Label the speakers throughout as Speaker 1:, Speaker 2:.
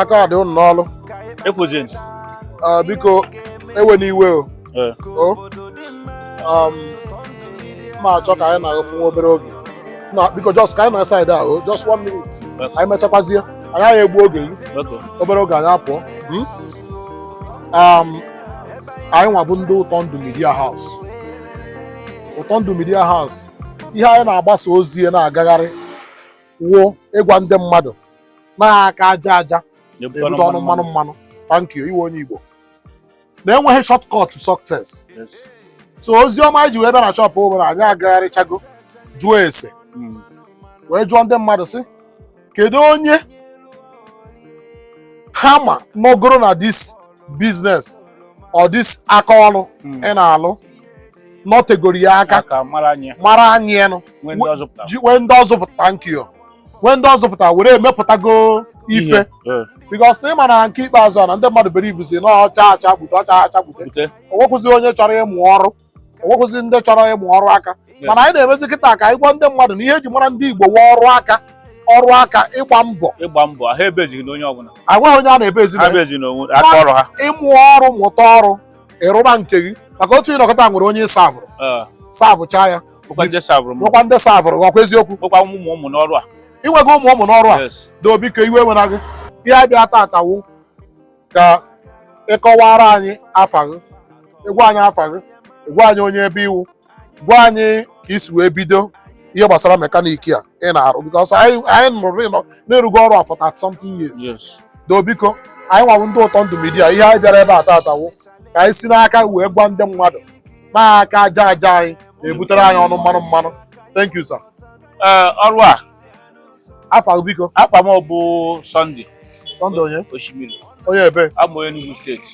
Speaker 1: aka dị ụnụ n'ọlụ
Speaker 2: efojent Ah,
Speaker 1: biko ewena iwe o ee o um, m na-achọ ka anyị na gị fụ nwa obere oge na biko just ka anyị nọ side a o just one minute anyị mechakwazie anyị agaghị egbu oge gị okay obere oge anyị apụọ mm? um, anyị nwa bụ ndị ụtọ ndụ media house ụtọ ndụ media house ihe anyị na-agbasa ozi ya na-agagharị wụ ịgwa ndị mmadụ na aka aja aja na-ebute ọnụ mmanụ mmanụ thank you ị wụ onye Igbo na enweghị shortcut to success so ozi ọma anyị ji wee bịa na shop bụ na anyị agagharịchago jụọ ese hmm. wee jụọ ndị mmadụ sị kedu onye ha ma nọgoro na this business or this aka ọrụ hmm. ị na-alụ nọtegoro ya aka mara anyị enu nwee ndị ọ zụpụta thank you nwee ndị ọ zụpụta were emepụtago ife because na ị ma na nke ikpeazụ na ndị mmadụ bilivuzi na ọcha acha gbute ọcha acha gbute o nwekwụzi onye chọrọ ịmụ ọrụ o nweghịzi ndị chọrọ ịmụ ọrụ aka mana anyị na-emezi kịta ka anyị gwa ndị mmadụ na ihe e ji mara ndị Igbo wụ ọrụ aka ọrụ aka ịgba mbọ ịgba mbọ ha ebezighị na onye ọbụla
Speaker 2: agwaghị onye a na-ebezi
Speaker 1: aka ọrụ ha ịmụ ọrụ mụta ọrụ ị rụba nke gị maka otu ị nọ kịta nwere onye savụrụ savụchaa ya nwekwa ndị savụrụ ọ kwa eziokwu nwekwa ụmụ ụmụ n'ọrụ a i nwego ụmụ ụmụ n'ọrụ a doo biko iwe ewena gị ihe a bịa tata wụ ka ị kọwara anyị afa gị ị gwa anyị afa gị ị gwa anyị onye ebe ị wụ gwa anyị ka i si wee bido ihe gbasara mekaniki a ị na-arụ because anyị anyị nụrụ na ị rụgo ọrụ a for 30 something years Yes. doo biko anyị nwa wụ ndị ụtọ ndụ media ihe anyị bịara ebe a tata wụ ka anyị si n'aka wee gwa ndị mmadụ na aka aja aja anyị na-ebutere anyị ọnụ mmanụ mmanụ thank you sir Ee, ọrụ a
Speaker 2: afa
Speaker 1: gị biko afa m
Speaker 2: bụ Sunday Sunday
Speaker 1: onye
Speaker 2: osimiri onye ebee
Speaker 1: abụ m onye Enugu
Speaker 2: state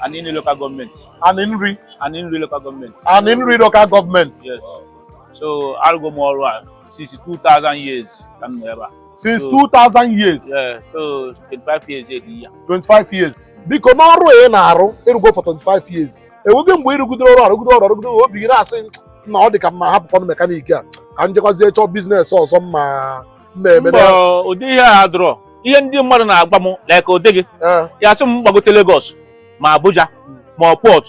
Speaker 2: Aninri local government Aninri Aninri local government
Speaker 1: Aninri local government yes
Speaker 2: so arụgo m ọrụ a since 2000 years ka m nọ ebe a
Speaker 1: since 2000 years yeah so 25
Speaker 2: years this year 25 years
Speaker 1: biko n'ọrụ ị na-arụ ị rụgo for 25 years enweghị mgbe ị rụgidere ọrụ arụgide ọrụ arụgide obi gị na-asị na ọ dị ka m ma hapụkwanụ mekaniki a ka m jekwazie chọọ business ọzọ m ma m ma-eme mba
Speaker 2: ụdị ihe a adịrọ ihe ndị mmadụ na-agwa m like ụdị gị Eh, ya sị m gbagote Lagos ma Abuja ma Port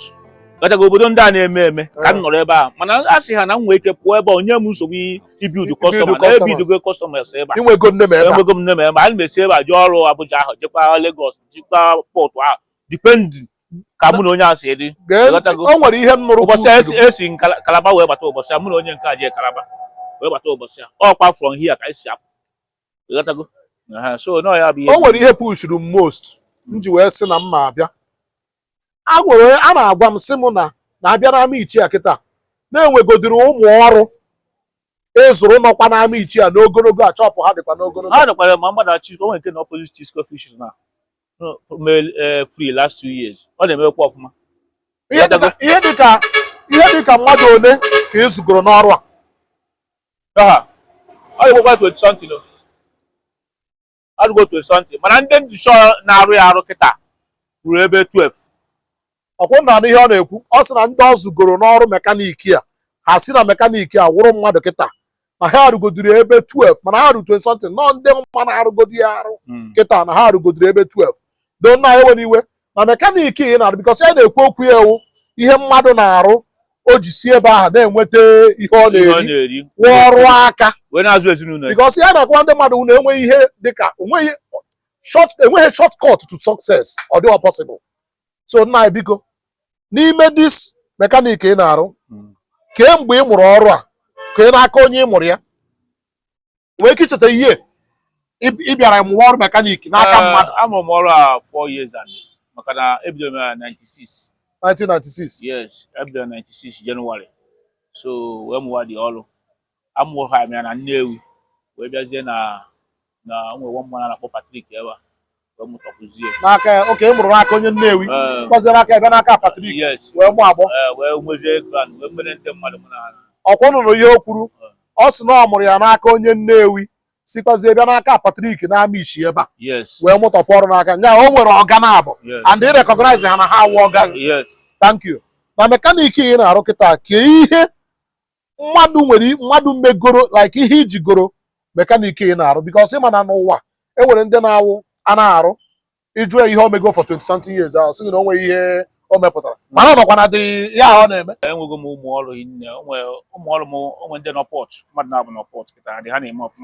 Speaker 2: gachaga obodo ndị a na-eme eme ka m nọrọ ebe a mana asị m ha na m nwee ike pụọ ebe a o nye m nsogbu ibiudu customer na customers. ebiudugo customers ebe a i nwego name ebe a enwego m name ebe a ana m esi ebe a jee ọrụ Abuja ahụ jekwa Lagos jekwa Port ahụ depending ka mụ na onye a si dị gee ntị Ịghọtago? o nwere
Speaker 1: ihe m nụrụ ụbọchị a esi- esi m
Speaker 2: Kala- kalaba wee bata ụbọchị a mụ na onye nke a jee kalaba wee bata ụbọchị a ọkwa from here ka anyị si apụ ịghọtago Aha, so na ya bụ ihe o nwere ihe pushuru m
Speaker 1: most m ji wee sị na m ma abịa a nwere onye- a na-agwa m sị m na na abịa n'Amichi a kịta na e nwegodiri ụmụ ọrụ ị zụrụ nọkwa n'Amichi a n'ogologo a chọpụ ha dịkwa n'ogologo ha nọkwara ma mmadụ achị
Speaker 2: o nwere nke na opposite Chisco fish na male eh, free last two years ọ na-emekwa ọfụma ihe
Speaker 1: dịka ihe dịka ihe dịka mmadụ ole ka ị zụgoro n'ọrụ a aha
Speaker 2: ọ dịgokwa 20 something o. ọ dịgo 20 something mana ndị m dị sure na-arụ ya arụ kịta ruru ebe 12 ọkwa
Speaker 1: unu na-anụ ihe ọ na-ekwu ọ sị na ndị ọ zụgoro n'ọrụ mekaniki a ha si na mekaniki a wụrụ mmadụ kịta na ha erugodiri ebe 12 mana ha ruru 20 something na ndị m ma na-arụgodi ya arụ hmm. kịta na ha erugodiri ebe 12 though nna ewena iwe na mekaniki ị na-arụ bikọs ya na-ekwu okwu ya wụ ihe mmadụ na-arụ o ji si ebe ahụ na-enweta ihe ọ na-eri wụ ọrụ aka bikọs ya na-agwa ndị mmadụ na enweghị ihe dịka enweghị short cut to success ọ dịghị possible so nna biko n'ime dis mekanik ị na-arụ hmm. kee mgbe ị mụrụ ọrụ a kee n'aka onye ị mụrụ ya nwee ike icheta year ị bịara mụwa ọrụ mekanik n'aka eh, mmadụ amụrụ m ọrụ a
Speaker 2: 4 years and maka na ebidoro m na 96 1996
Speaker 1: yes ebidoro
Speaker 2: 96 January so wee mụwa the ọrụ amụrụ ha ya na Nnewi wee bịazie na na o nwe nwa mmadụ a na-akpọ Patrik ebe a wee mụtakwuzie n'aka ya okee ị mụrụ
Speaker 1: n'aka onye Nnewi Ee. sikwazie n'aka ya bịa
Speaker 2: n'aka
Speaker 1: Patrik yes wee gbaa agbọ
Speaker 2: ee wee
Speaker 1: nwezie ground
Speaker 2: wee mere ndị mmadụ mụ na ha ọkwa unu nụrụ ihe
Speaker 1: o kwuru ọ sị na ọ mụrụ ya n'aka onye Nnewi sikwazie bịa n'aka Patrik n'Amichi ebe a yes wee mụtapụ
Speaker 2: ọrụ
Speaker 1: n'aka ya o nwere ọga naabụ yes and ị rekọgnaiz ha na ha awụ ọga gị yes thank you
Speaker 2: na
Speaker 1: mekaniki ị na-arụ kịta kee ihe mmadụ nwere mmadụ megoro like ihe i jigoro mekanik ị na-arụ because ị ma na n'ụwa e nwere ndị na-awụ a na-arụ ị jụọ ya ihe o mego for 20 something years ahụ sị gị na o nweghị ihe o mepụtara mana ọ nọkwa na the ihe ahụ ọ na-eme enwego m ụmụ ọrụ
Speaker 2: hinne o nwe ụmụ ọrụ m o nwe ndị nọ Port mmadụ naabụ nọ Port kịta dị ha na-eme ọfụma